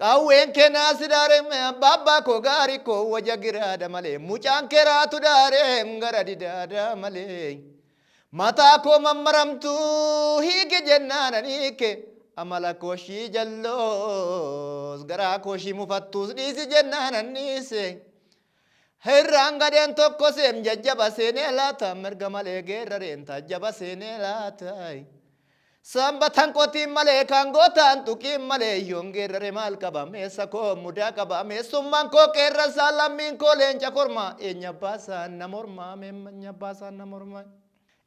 Qawween kee naa sidaare Abbaa koo gaari koo waja giraada malee Mucaan kee raatu daare gara didaada malee Mataa koo mammaramtuu hiiki jennaan an hiike Amala koo shii jalloos garaa koo shii mufattuus dhiisi jennaan an dhiise Hirraan gadheen tokko seem jajjaba seenee laata mirga malee geerrareen taajjaba seenee laata Sanbatan qotiin malee kan gootaan tuqiin malee yoon geerrare maal qaba meessa koo mudaa qaba meessummaan koo qeerransaa lammiin koo leenca kormaa eenya baasaan na mormaa meemmanya baasaan na mormaa.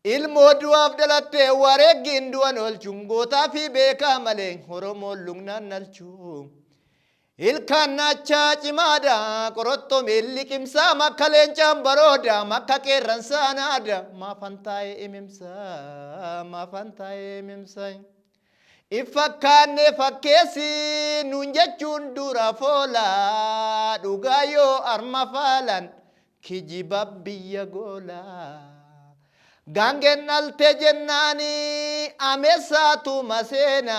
Ilmoo du'aaf dhalattee wareeggiin du'an oolchuun gootaa fi beekaa malee Oromoon lugnaan nalchuu. Ilkaan naacha cimaadha qorottoo miil liqimsaam akka leencaan barooda makka qeerransaa naada maafan taa'ee imimsa maafan taa'ee imimsa. If fakkaannee fakkeessi nuun jechuun dura foola dhugaa yoo arma faalan kijiba biyya goola. Gaangeen dhalte jennaani ameessaatu maseena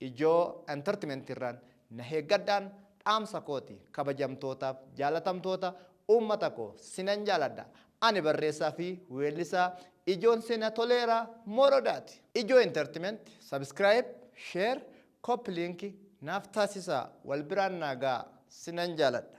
Ijoo Entertment irraan na heeggadhaan dhaamsa kooti kabajamtootaaf jaalatamtoota uummata koo sinan jaaladha ani barreessaa fi weellisaa Ijoon Seenaa Toleeraa Morodaati. Ijoo Entertment subscribe, share, copy link naaf taasisaa wal biraan naa ga'aa sinan jaaladha.